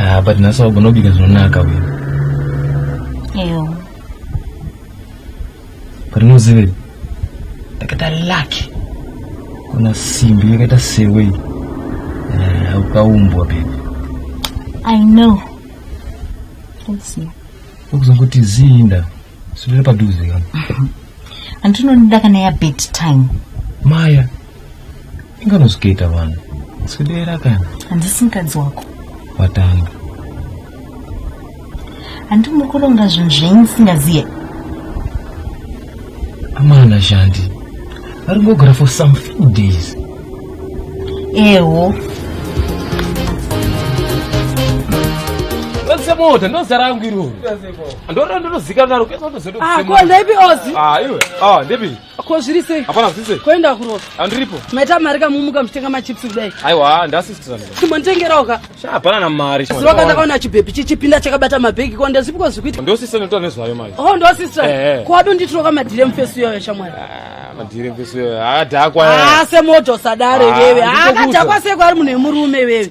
Ah, but nhasi wagona kubika zvinonaka uyu but muzive ndakaita lucky kuna simbi yakaita sewe eh, ukaumbwa baby i know thanks ma ukuzongoti ziinda sudira padhuze kana andinonoda kana ya bed time maya Inga nozvikaita vanhu. Sudera kana. Handisi mukadzi wako. Watanga. Handi muri kuronga zvinhu zvenyu musingaziye. Amana Shandi. Vari kugara for some few days. Ewo. mota ndozara yangu iroro ndorora ndinozika naro kuendza ndozodaipi ozi ndepi Ko zviri sei? Hapana zviri sei? Koenda kurova. Andiripo. Maita mari kamumuka mchitenga machips kudai. Aiwa, ndasisitira. Chimonitengerawo ka. Sha hapana na mari. Sura kana kaona chibhebi chichipinda chakabata mabhegi ko ndazipiko zvikuita. Ndo sister ndotora nezvayo manje. Oh ndo sister. Eh, eh. Ko ado nditiro kama dire mfesu yoyo shamwari. Ah, madire mfesu yoyo. Ah, dakwa. Ah, se moto sadare ah, wewe. Ah, dakwa se kwari munhu emurume wewe.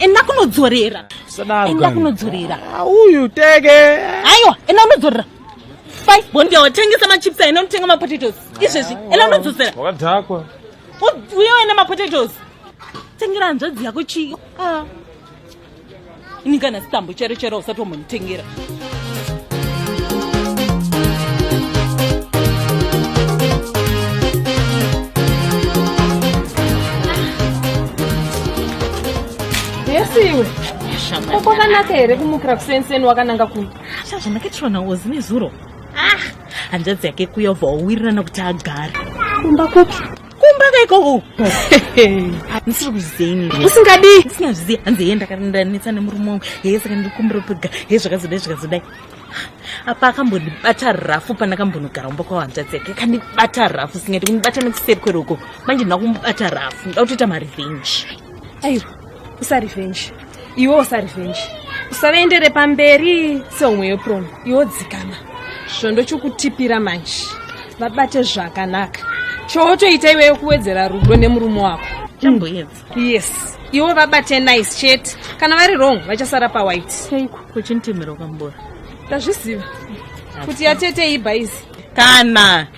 enda kunodzorera enda kunodzorera ah, uyu tege aiwa enda unodzorera fai bondi yawo tengesa machips aina unotenga mapotatoes izvezvi enda unodzosera wakadhakwa uye waina mapotatoes tengera hanzvadzi yako chii ah. ini kana sitambo chero chero usati wambonditengera yesiwe ko kwakanaka here kumukira kusenseni wakananga kupi zvandakachiwanawo zine zuro hanzvadzi yake kuya ubva wawirirana kuti agare kumba kupi kumba kaikoko ndisiri kuzeni usingadii ndisinazviziya hanzi heye ndakandanetsa nemurume wangu heye saka ndikumbiro pega heye zvakazodai zvakazodai apa akambondibata rafu pandakambonogara kumba kwahanzvadzi yake akandibata rafu singati kundibata nekuseri kweroko manje ndakumubata rafu ndakutoita marevenge aiwa usarevenge iwe usarevenge usavaendere pamberi seumwe yeprom iwo dzikama svondo chokutipira manje vabate zvakanaka chootoita iweyo kuwedzera rudo nemurume wako chamboyedza yes iwo vabate nice chete kana vari wrong vachasara pawhite chaiko kuchintimira ukambora ndazviziva kuti yatete ibhaizi kana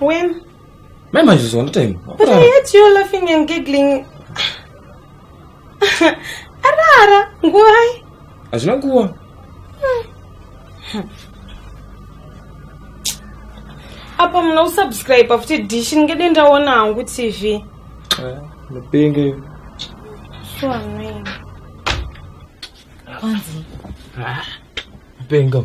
When? Mai Majuzi one time. But I heard you laughing and giggling. Arara, nguwai? Hazvina nguwa. Apa muna kusubscribe futi dish ndingede ndaona hangu TV. Mupenge. So annoying. Kwanzi. Ah, Mpengo.